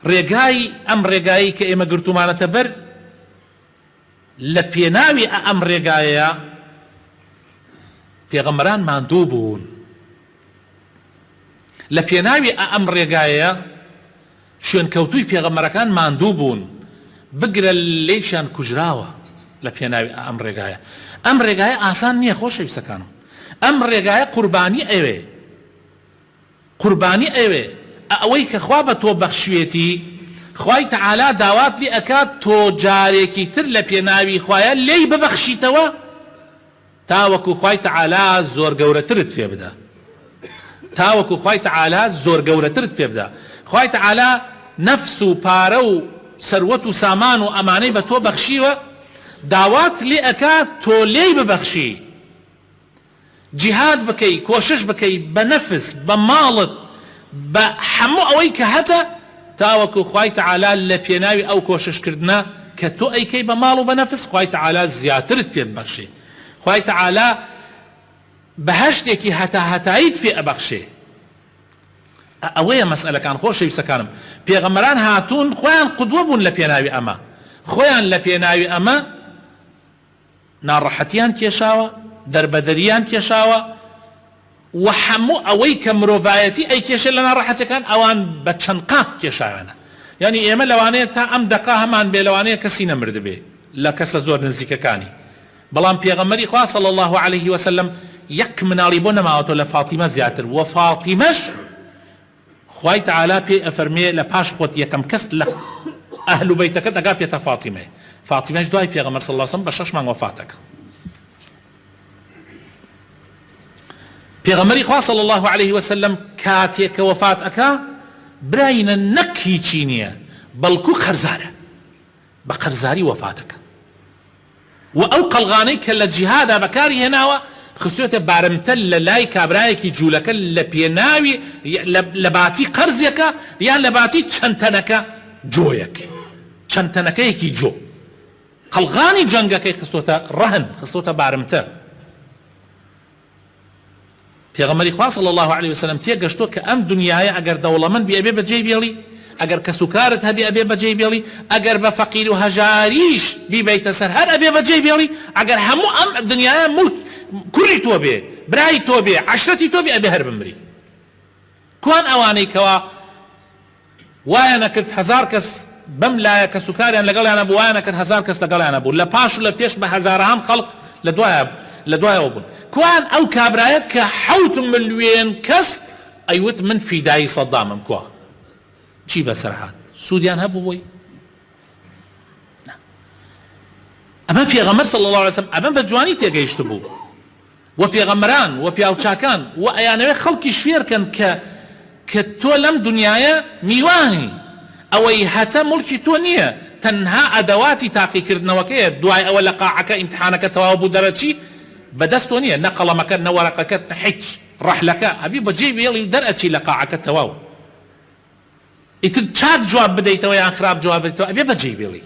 ڕێگای ئەم ڕێگایەی کە ئێمە گرتوومانەتە بەر لە پێناوی ئە ئەم ڕێگایەیە پێغەمبەران ماندوو بوون لە پێناوی ئە ئەم ڕێگایەیە شوێنکەوتووی پێغەمبەرەکان ماندوو بوون بگرە لێشان کوژراوە لە پێناوی ئەم ڕێگایە ئەم ڕێگایە ئاسان نییە خۆشەویستەکانم ئەم ڕێگایە قوربانی ئەوێ قوربانی ئەوێ ئە ئەوەی کە خوا بە تۆ بەخشوێتی خوای تەعالا داوات لێ ئەکات تۆ جارێکی تر لە پێناوی خوایە لێی ببەخشیتەوە تاوەکو خوای تەعالا زۆر گەورەترت پێ بدا تاوەکو خوای تەعالا زۆر گەورەترت پێ بدا خوای تەعالا نەفس و پارە و سەروەت و سامان و ئەمانەی بە تۆ بەخشیوە داوات لێ ئەکات تۆ لێی ببەخشی جیهاد بکەی کۆشش بکەی بە نەفس بە ماڵت بە هەموو ئەوەی کە هەتە تاوەکو خوای تەعالا لە پێناوی ئەو کۆشش کردنە کە تۆ ئەیکەی بە ماڵ و بە نەفس خوای تەعالا زیاترت پێ ببەخشێ خوای تەعالا بەهەشتێکی هەتا هەتاییت پێ ئەبەخشێ ئەوەیە مەسئەلەکان خۆشەویستەکانم پێغەمبەران هاتوون خۆیان قودوە بوون لە پێناوی ئەمە خۆیان لە پێناوی ئەمە ناڕەحەتیان کێشاوە، دەربەدەریان کێشاوە و هەموو ئەوەی کە مرۆڤایەتی ئەیکێشێت لە ناڕەحەتیەکان ئەوان بە چەند قات کێشاویانە. یانی ئێمە لەوانەیە تا ئەم دەقە هەمان بێ لەوانەیە کەسی نەمردبێ لە کەسە زۆر نزیکەکانی بەڵام پێغەمبەری خوا صلی اللە علیه وسلم یەک مناڵی بۆ نەماوەتەوە لە فاطیمە زیاتر وە فاطیمەش خوای تەعالا پێی ئەفەرموێ لە پاش خۆت یەکەم کەست لە ئەهل و بەیتەکەت ئەگا پێتە فاتیمەیە فاتیمەش دوای پێغەمبەر صلی اللە علیە وسلم بە شەش مانگ وەفات ئەکا پێغەمبەری خوا صلی اللە علیە وسلم کاتێ کە وەفات ئەکا براینە نەک هیچی نییە بەڵکو قەرزارە بە قەرزاری وەفات ئەکا و ئەو قەڵغانەی کە لە جیهادا بەکاری هێناوە خستوێتە بارمتە لە لای کابرایەکی جوولەکە لە پێناوی لە باتی قەرزێکە یان لە باتی چەند تەنەکە جۆیەک چەند تەنەکەیەکی جۆ قەڵغانی جەنگەکەی خستۆتە ڕەهن خستۆتە بارمتە پێغەمبەری خوا صلی اللە علیە و سلم تێگەشتووە کە ئەم دنیایە ئەگەر دەوڵەمەند بی ئەبێ بەجێی بێڵی ئەگەر کەسوکارت هەبی ئەبێ بەجێی بێڵی ئەگەر بە فەقیر و هەژاریش بیبەیتە سەر هەر ئەبێ بەجێی بێڵی ئەگەر هەموو ئەم دنیایە ملک کوڕی تۆ بێ برای تۆ بێ عەشرەتی تۆ بێ ئەبێ هەر بمری کوان ئەوانەی کەوا وایان ئەکرد هەزار کەس بەم لایە کەسوکاریان لەگەڵیان هەبوو وایان ئەکرد هەزار کەس لەگەڵیان هەبوو لە پاش و لە پێش بە هەزارەهام خەڵک لە دوایە لە دوایەوە بوون کوان ئەو کابرایە کە حەوت ملوێن کەس ئەیوت من فیدایی سەدامم کوا چی بەسەر هات سوودیان هەبوو بۆی ئەمە پێغەمبەر صلی الله علیه وسلم ئەمە بە جوانی تێگەیشت بوو وە پێغەمبەران وە پیاوچاکان وە ئەیانەوێت خەڵکیش فێرکەن کە کە تۆ لەم دنیایە میوانی ئەوەی هەتە موڵکی تۆ نیە تەنها ئەدەواتی تاقیکردنەوەکەیە دوای ئەوە لە قاعەکە ئیمتحانەکە تەواو بوو دەرەچی بەدەست تۆ نیە نە قەڵەمەکەت نە وەرەقەکەت نە هیچ ڕەحلەکە ئەبی بە جێی بێڵی و دەرئەچی لە قاعەکە تەواو ئیتر چاک جواب بدەیتەوە یان خراپ جواب بدەیتەوە ئەبێ بەجێی بێڵی.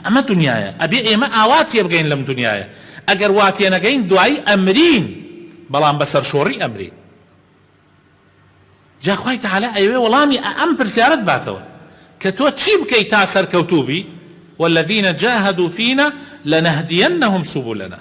ئەمە دنیایە ئەبێ ئێمە ئاوا تێبگەین لەم دنیایە ئەگەر وا تێنەگەین دوایی ئەمرین بەڵام بە سەرشۆڕی ئەمرین جا خوای تەعالا ئەیەوێ وەڵامی ئە ئەم پرسیارەت باتەوە کە تۆ چی بکەی تا سەرکەوتوو بی والذین جاهدوا فینا لنهدینهم سبلنا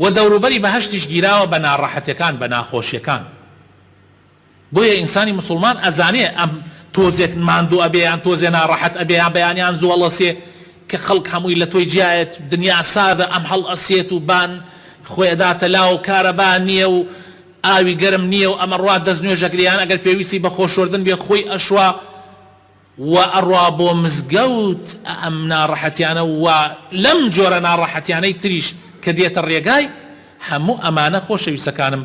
و دەوروبەری بەهەشتیش گیراوە بە ناڕەحەتیەکان بە ناخۆشیەکان بۆیە ئینسانی مسوڵمان ئەزانێ ئەم تۆزێک ماندو ئەبێ یان تۆزێ ناڕەحەت ئەبێ یان بەیانیان زوەڵەسێ کە خەڵک هەمووی لە تۆی جیایەت دنیا ساردە ئەم هەڵ ئەسێت و بان خۆی ئەداتە لاو کارەبا نیە و ئاوی گەرم نیە و ئەمەڕوا دەست نوێژەکرێ یان ئەگەر پێویستی بە خۆشۆردن بێ خۆی ئەشوا و ئەڕا بۆ مزگەوت ئەم ناڕەحەتیانە و لەم جۆرە ناڕەحەتیانەی تریش کە دێتە ڕێگای هەموو ئەمانە خۆشەویستەکانم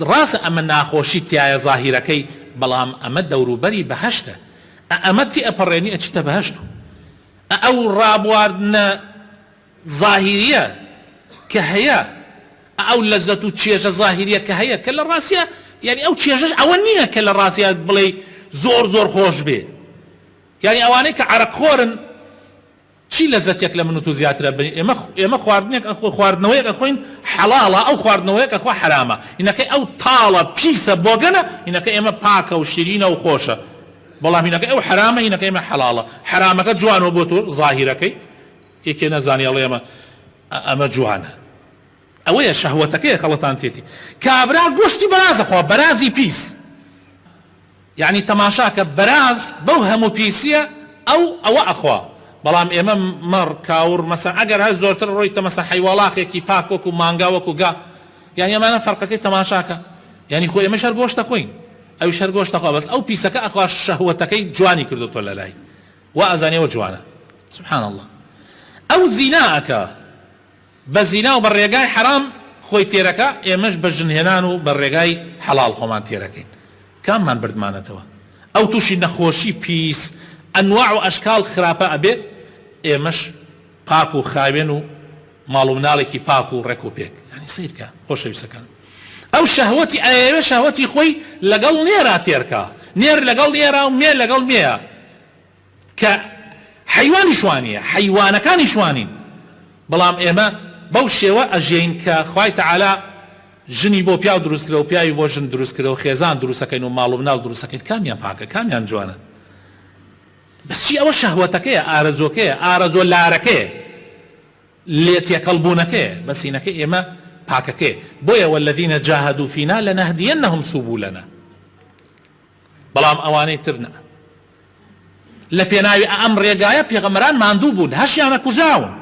ڕاستە ئەمە ناخۆشیت تیایە زاهیرەکەی بەڵام ئەمە دەوروبەری بەهەشتە ئەمە تێئەپەڕێنی ئەچیتە بەهەشت و ئەو ڕابواردنە زاهیریە کە هەیە ئە ئەو لەزەت و چێژە زاهیریە کە هەیە کە لە ڕاستیا یانی ئەو چێژەش ئەوە نیە کە لە ڕاستیا بڵێی زۆر زۆر خۆش بێ یانی ئەوانەی کە عەرەق خۆرن چی لەزەتێک لە من و تۆ زیاترە بن ئێمە ئێمە خواردنێک ئەخۆ خواردنەوەیەک ئەخۆین حەڵاڵە ئەو خواردنەوەیەک ئەخۆ حەرامە هینەکەی ئەو تاڵە پیسە بۆگەنە هینەکە ئێمە پاکە و شیرینە و خۆشە بەڵام هینەکەی ئەو حەرامە هینەکەی ئێمە حەڵاڵە حەرامەکە جوانەوە بۆ تۆ زاهیرەکەی یەکێ نەزانی ئەڵێ ئەمە ئەمە جوانە ئەوەیە شەهوەتەکەیە خەڵەتان تێتی کابرا گۆشتی بەراز ئەخوا بەرازی پیس یەعنی تەماشاکە بەراز بەو هەموو پیسیە ئەو ئەوە ئەخوا بەڵام ئێمە مەڕ کاوڕ مەسەن ئەگەر هەر زۆرتر ڕۆیتە مەسەن حەیواڵاخێکی پاک وەکو مانگا وەکو گا یەعنی ئەمانە فەرقەکەی تەماشاکە یەعنی خۆ ئێمەش هەر گۆشت دەخۆین ئەویش هەر گۆشت دەخوا بەس ئەو پیسەکە ئەخوا شەهوەتەکەی جوانی کردۆتۆ لەلای وا ئەزانی ئەوە جوانە سبحان اللە ئەو زینا ئەکا بە زینا و بە ڕێگای حەرام خۆی تێرەکا ئێمەش بە ژن هێنان و بە ڕێگای حەڵاڵ خۆمان تێرەکەین کاممان بردمانەتەوە ئەو توشی نەخۆشی پیس ئەنواع و ئەشکال خراپە ئەبێ ئێمەش پاک و خاوێن و ماڵ و مناڵێکی پاک و ڕێک و پێک یانی سەیرکە خۆشەویستەکان ئەو شەهوەتی ئەیەوێ شەهوەتی خۆی لەگەڵ نێرا تێرکە نێر لەگەڵ نێرا و مێ لەگەڵ مێیە کە حەیوانی شوانیە حەیوانەکانی شوانین بەڵام ئێمە بەو شێوە ئەژین کە خوای تەعالا ژنی بۆ پیاو دروست کرە و پیاوی بۆ ژن دروست کرە و خێزان دروستەکەین و ماڵ و مناڵ دروستەکەین کامیان پاکە کامیان جوانە بەس چی ئەوە شەهوەتەکەیە ئارەزۆکەیە ئارەزۆ لارەکەیە لێ تێکەڵ بونەکەیە بەس هینەکە ئێمە پاکەکەیە بۆیە والذین جاهدوا فینا لنهدینهم سبلنا بەڵام ئەوانەی تر نا لە پێناوی ئەم ڕێگایە پێغەمەران ماندوو بوون هەشیانە کوژاون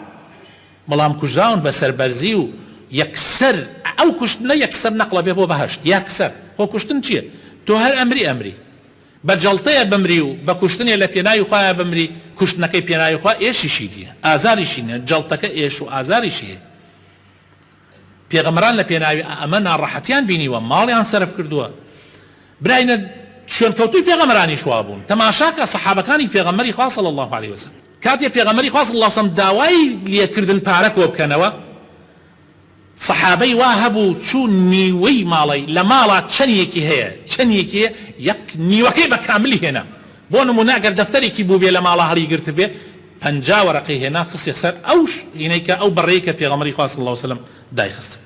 بەڵام کوژراون بە سەربەرزی و یەکسەر ئەو کوشتنە یەکسەر نەقڵە بێ بۆ بەهشت یەکسەر خۆ کوشتن چییە تۆ هەر ئەمری ئەمری بە جەڵتەیە بمری و بە کوشتنێ لە پێناوی خوایە بمری، کوشتنەکەی پێناوی خوا ئێشیشی نییە، ئازاریشی نییە، جەڵتەکە ئێش و ئازاریشی هەیە. پێغەمبەران لە پێناوی ئەمە ناڕەحەتیان بینیوە، ماڵیان سەرف کردووە. براینە، شوێنکەوتووی پێغەمبەرانیش وا بوون. تەماشا کە سەحابەکانی پێغەمبەری خوا صلی اللە علیە وسلم کاتێ پێغەمبەری خوا صلی اللە علیە وسلم داوای لێکردن پارە کۆ بکەنەوە، سەحابەی وا هەبوو چوو نیوەی ماڵەی لە ماڵا چەنیەکی هەیە چەنیەکی هەیە یەک نیوەکەی بە کاملی هێنا بۆ نموونە ئەگەر دەفتەرێکی بووبێ لە ماڵا هەڵی گرتبێ پەنجا وەرەقەی هێنا خستیە سەر ئەو شینەی کە ئەو بەڕەی کە پێغەمبەری خوا صلی اللە وسلم دایخستبوو